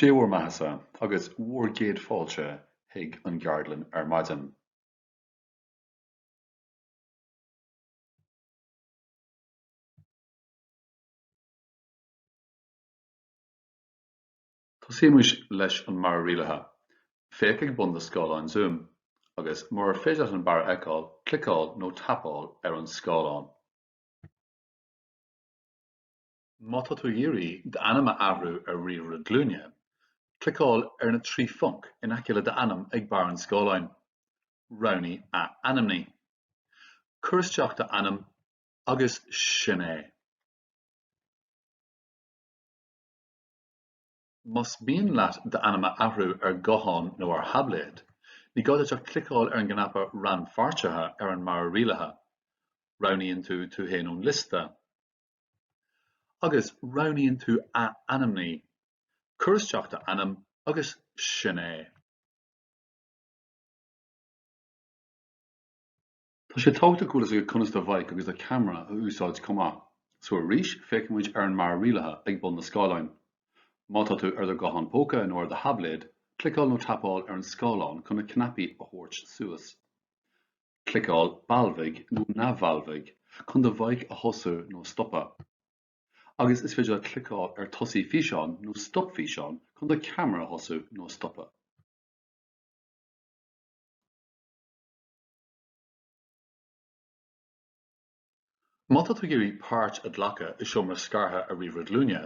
Dé bhur mbeathasa agus bhur gcéad fáilte chuig an gceardlann ar maidin. Tosaímis leis an mbarra rialaithe. Féach ag bun do scáileáin Zoom, agus murar féidir leat an barra a fheiceáil, cliceáil nó tapáil ar an scáileán. Má tá tú ag iarraidh d'ainm a athrú ar ríomhaire glúine, cliceáil ar na trí phonc in aice le d'ainm ag barr an scáileáin. Roghnaigh Athainmnigh. Cuir isteach d'ainm agus sin é. Más mian leat d'ainm a athrú ar ghuthán nó ar thaibléad, ní gá duit ach cliceáil ar an gcnaipe Rannpháirtithe ar an mbarra rialaithe. Roghnaíonn tú tú féin ón liosta. agus roghnaíonn tú Athainmnigh, cuir isteach d'ainm agus sin é. Tá sé tábhachtach go bhfuil a fhios agat conas do mhic agus do cheamara a úsáid chomh maith, so arís féachaimid ar an mbarra rialaithe ag bun an scáileáin. Má tá tú ar do ghuthán póca nó ar do thaibléad, cliceáil nó tapáil ar an scáileán chun na cnaipí a thabhairt suas. Cliceáil Balbhaigh nó Neamhbhalbhaigh chun do mhic a thosú nó a stopadh. Agus is féidir leat cliceáil ar Tosaigh Físeán nó Stop Físeán chun do cheamara a thosú nó a stopadh. Má tá tú ag iarraidh páirt a ghlacadh i seomra scartha ar ríomhaire glúine,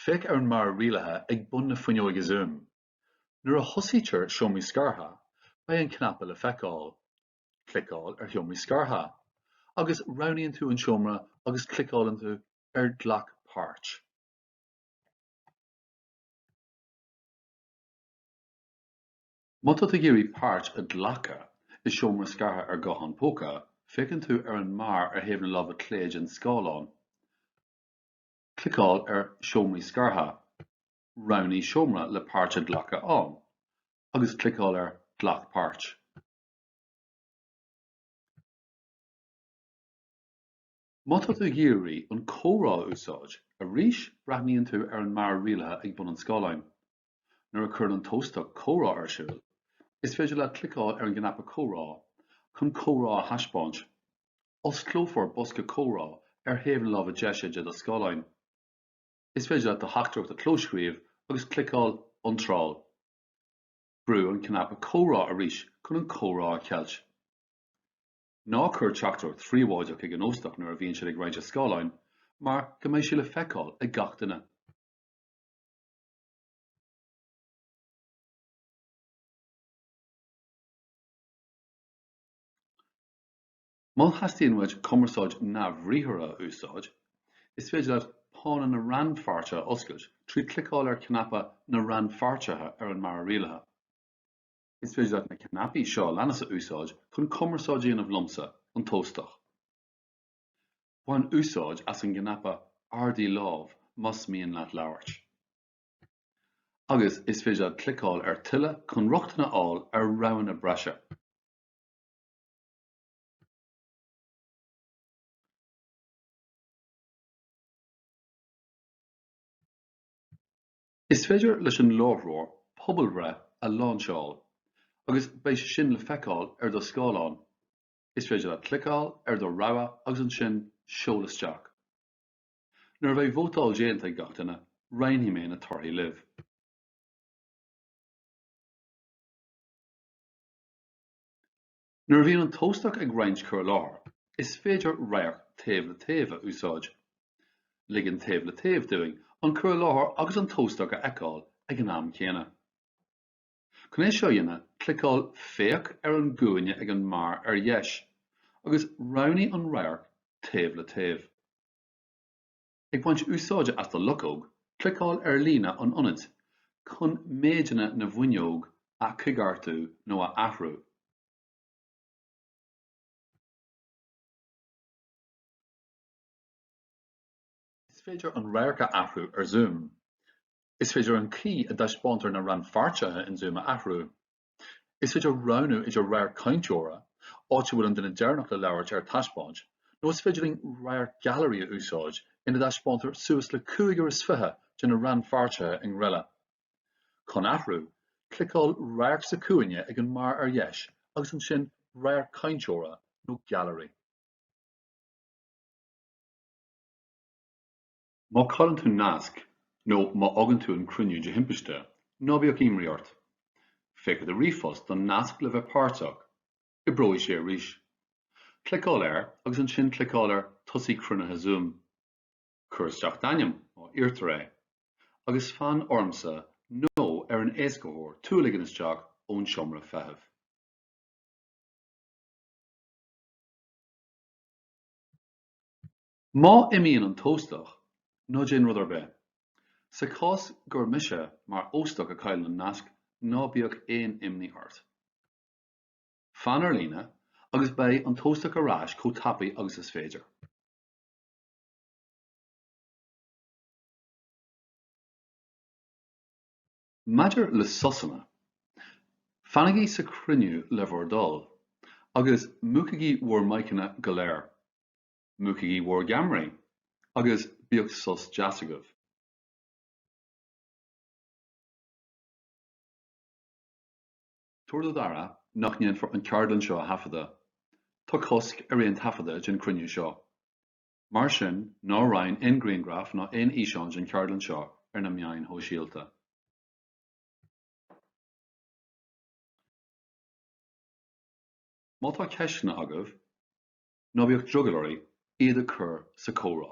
féach ar an mbarra rialaithe ag bun na fuinneoige Zoom. Nuair a thosaítear Seomraí Scartha, beidh an cnaipe le feiceáil. Cliceáil ar Sheomraí Scartha agus roghnaíonn tú an seomra agus cliceálann tú ar Glac Páirt. Má tá tú ag iarraidh páirt a ghlacadh i Seomra Scartha ar ghuthán póca, féachann tú ar an mbarr ar thaobh na láimhe clé den scáileán. Cliceáil ar Seomraí Scartha. Roghnaigh seomra le páirt a ghlacadh ann agus cliceáil ar Glac páirt. Má tá tú ag iarraidh an comhrá a úsáid arís breathnaíonn tú ar an mbarra rialaithe ag bun an scáileáin. Nuair a chuireann an t-óstach comhrá ar siúl, is féidir leat cliceáil ar an gcnaipe comhrá chun comhrá a thaispeáint. Osclófar bosca comhrá ar thaobh na láimhe deise de do scáileán. Is féidir leat do theachtaireacht a chlóscríobh agus cliceáil 'Iontráil'. Brú an cnaipe 'Comhrá' arís chun an comhrá a cheilt. Ná cuir teachtaireacht phríobháideach chuig an óstach nuair a bhíonn siad ag roinnt a scáileáin mar go mbeidh sé le feiceáil ag gach duine. Má theastaíonn uait cumarsáid neamhbhriathartha a úsáid, is féidir leat pána na rannpháirtithe a oscailt trí chliceáil ar chnaipe na rannpháirtithe ar an mbarra rialaithe. Is féidir leat na cnaipí seo a leanas a úsáid chun cumarsáid a dhéanamh liomsa, an t-óstach. Bain úsáid as an gcnaipe ardaigh lámh más mian leat labhairt. Agus, is féidir leat cliceáil ar tuilleadh chun rochtain a fháil ar roghanna breise. Is féidir leis an láithreoir pobalbhreith a láinseáil agus beidh sé sin le feiceáil ar do scáileán. Is féidir leat cliceáil ar do rogha agus ansin seol isteach. Nuair a bheidh vótáil déanta ag gach duine, roinnfidh mé na torthaí libh. Nuair a bhíonn an t-óstach ag roinnt cur i láthair, is féidir radharc taobh le taobh a úsáid. Ligeann taobh le taobh dúinn an cur i láthair agus an t-óstach a fheiceáil ag an am céanna. Chun é seo a dhéanamh, cliceáil 'Féach' ar an gcúinne ag an mbarr ar dheis, agus roghnaigh an radharc taobh le taobh. Ag baint úsáide as do luchóg, cliceáil ar líne an ionaid chun méideanna na bhfuinneog a choigeartú nó a athrú. Is féidir an radharc a athrú ar Zoom. Is féidir an chaoi a dtaispeántar na rannpháirtithe in Zoom a athrú. Is féidir roghnú idir radharc cainteora, áit a bhfuil an duine deireanach le labhairt ar taispeáint, nó is féidir linn radharc gailearaí a úsáid ina dtaispeántar suas le cúigear is fiche de na rannpháirtithe i ngreille. Chun athrú, cliceáil Radharc sa chúinne ag an mbarr ar dheis agus ansin Radharc Cainteora nó Gailearaí. Má chailleann tú nasc nó má fhágann tú an cruinniú de thimpiste, ná bíodh imní ort. Féach i do ríomhphost don nasc le bheith páirteach. Oibreoidh sé arís. Cliceáil air agus ansin cliceáil ar 'Tosaigh Cruinnithe Zoom'. Cuir isteach d'ainm, má iarrtar é, agus fan ormsa nó ar an éascaitheoir tú a ligean isteach ón seomra feithimh. Má imíonn an t-óstach, ná déan rud ar bith. Sa chás gur mise mar óstach a chailleann an nasc, ná bíodh aon imní ort. Fan ar líne agus beidh an t-óstach ar ais chomh tapaidh agus is féidir. Maidir le sosanna, fanaigí sa chruinniú le bhur dtoil, agus múchaigí bhur maiceanna go léir. Múchaigí bhur gceamaraí agus bíodh sos deas agaibh. Tabhair do d'aire nach ndéanfar an ceardlann seo a thaifeadadh. Tá cosc ar aon taifeadadh den chruinniú seo. Mar sin ná roinn aon ghrianghraif ná aon fhíseáin den cheardlann seo ar na meáin shóisialta. Má tá ceisteanna agaibh, Ná bíodh drogall oraibh iad a chur sa chomhrá.